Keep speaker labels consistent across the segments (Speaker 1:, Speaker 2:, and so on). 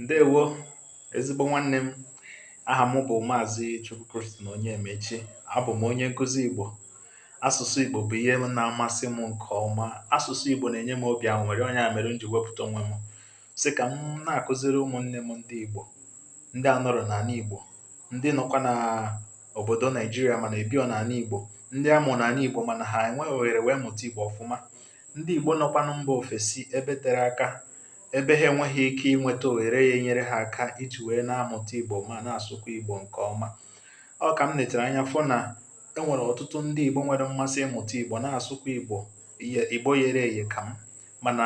Speaker 1: ǹdeèwo ezigbo nwanne m aha m bụ̀ maazị chukwu christian onyemaechi abụ̀ m onye nkụzi ìgbò asụ̀sụ ìgbò bụ̀ ihe na-amasị m ǹkè ọma asụ̀sụ ìgbò nà-ènye m obì anwụ̀rị ọ nya mèrè m jì wepụ̀ta onwe m sị kà m na-àkụziri ụmụ̀ nne m ndị ìgbò ndị anọrọ̀ nà àna ìgbò ndị nọkwa nà òbòdò naịjirịa mànà èbirọ̀ nà àna ìgbò ndị a mụ̀ nà àna ìgbò mànà ha ènwe òhèrè wee mụ̀ta ìgbò ọ̀fụma Ndị Igbo nọkwanụ mba ofesi ebe tere aka, ebe ha enweghị ike inweta ohere ga-enyere ha aka iji wee na-amụta Igbo ma na-asụkwa Igbo nke ọma. Ọ ka m netere anya fụ na e nwere ọtụtụ ndị Igbo nwere mmasị ịmụta Igbo na-asụkwa Igbo yere eye ka m mana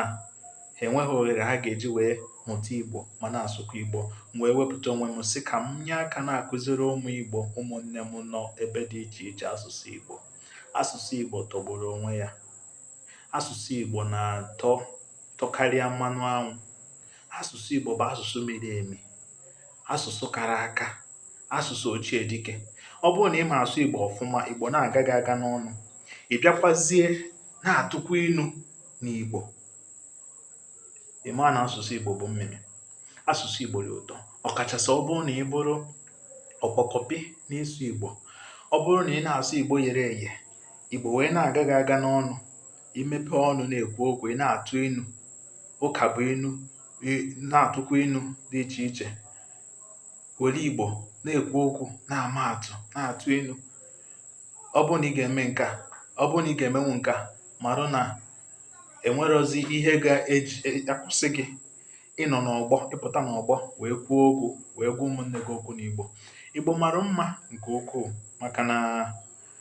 Speaker 1: ha enweghị ohere ha ga-eji wee mụta Igbo ma na-asụkwa Igbo m wee wepụta onwe m sị ka m nye aka na-akụziri ụmụ Igbo ụmụnne m nọ ebe dị iche iche asụsụ Igbo asụsụ Igbo tọgburu onwe ya Asụsụ Igbo na-atọ ụtọ karịa mmanụ anwụ. Asụsụ Igbo bụ asụsụ miri emi, asụsụ kara aka, asụsụ ochie dike. Ọ bụrụ na ị ma asụ Igbo ọfụma, Igbo na-aga gị aga n'ọnụ. Ị bịakwazie na-atụkwa inu n'Igbo. Ị maa na asụsụ Igbo bụ mmịmị. Asụsụ Igbo dị ụtọ, ọkachasị ọ bụrụ na ị bụrụ ọkpọkọpị n'ịsụ Igbo. Ọ bụrụ na ị na-asụ Igbo yere eye Igbo wee na-aga gị aga n'ọnụ ị mepe ọnụ na-ekwu okwu ị na-atụ inu ụka bụ inu na-atụkwa inu dị iche iche were Igbo na-ekwu okwu na-ama atụ na-atụ inu ọ bụrụ na ị ga-eme nke a ọ bụrụ na ị ga-emenwu nke a marụ na enwerọzi ihe ga-eji e, akwụsị gị ịnọ n'ọgbọ ịpụta n'ọgbọ wee kwuo okwu wee gwa ụmụnne gị okwu n'Igbo Igbo mara mma nke ukwuu maka na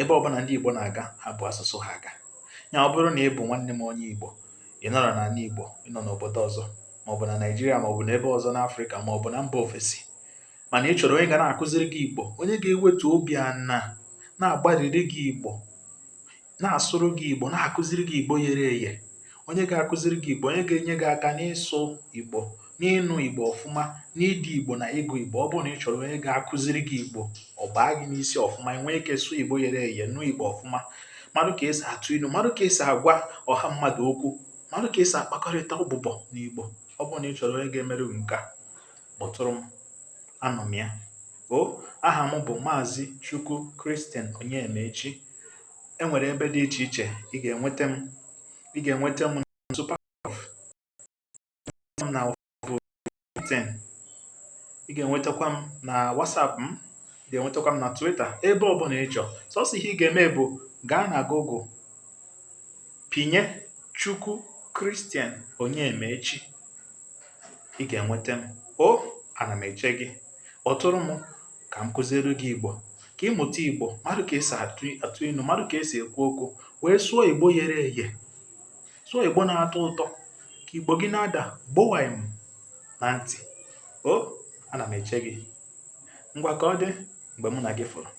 Speaker 1: ebe ọbụla ndị Igbo na-aga ha bu asụsụ ha aga ya ọ bụrụ na ị bụ nwanne m onye Igbo ị nọrọ n'ana Igbo ị nọ n'obodo ọzọ maọbụ na Naịjirịa maọbụ n'ebe ọzọ n'Afrịka maọbụ na mba ofesi mana ị chọrọ onye ga na-akụziri gị Igbo onye ga-ewetu obi ana na-agbariri gị Igbo na-asụrụ gị Igbo na-akụziri gị Igbo yere eye onye ga-akụziri gị Igbo onye ga-enye gị aka n'ịsụ Igbo n'ịnụ Igbo ọfụma n'ide Igbo na ịgụ Igbo ọ bụrụ na ị chọrọ onye ga-akụziri gị Igbo ọ baa gị n'isi ọfụma i nwee ike sụọ Igbo yere eye nụ Igbo ọfụma marụ ka esi atụ inu marụ ka esi agwa ọha mmadụ okwu marụ ka esi akpakọrịta ụbụbọ n'Igbo ọ bụrụ na ị chọrọ onye ga-emere gị nke a kpọtụrụ m anọ m ya o aha m bụ maazị Chukwu Christian Onyemaechi enwere ebe dị iche iche ị ga-enweta m ị ga-enweta m m na LinkedIn ị ga-enwetakwa m na WhatsApp ị ga-enwetakwa m na Twitter ebe ọbụla ị chọọ sọsọ ihe ị ga-eme bụ gaa na Google pinye Chukwu Christian Onyemaechi ị ga-enweta m o ana m eche gị kpọtụrụ m ka m kuzielu gị Igbo ka ị mụta Igbo malụ ka esi atụ inu malụ ka esi ekwu okwu wee sụọ Igbo yere eye so Igbo na-atọ ụtọ ka Igbo gị na-ada gbowaim na ntị o ana m eche gị ngwa ka ọ dị mgbe mụ na gị fụrụ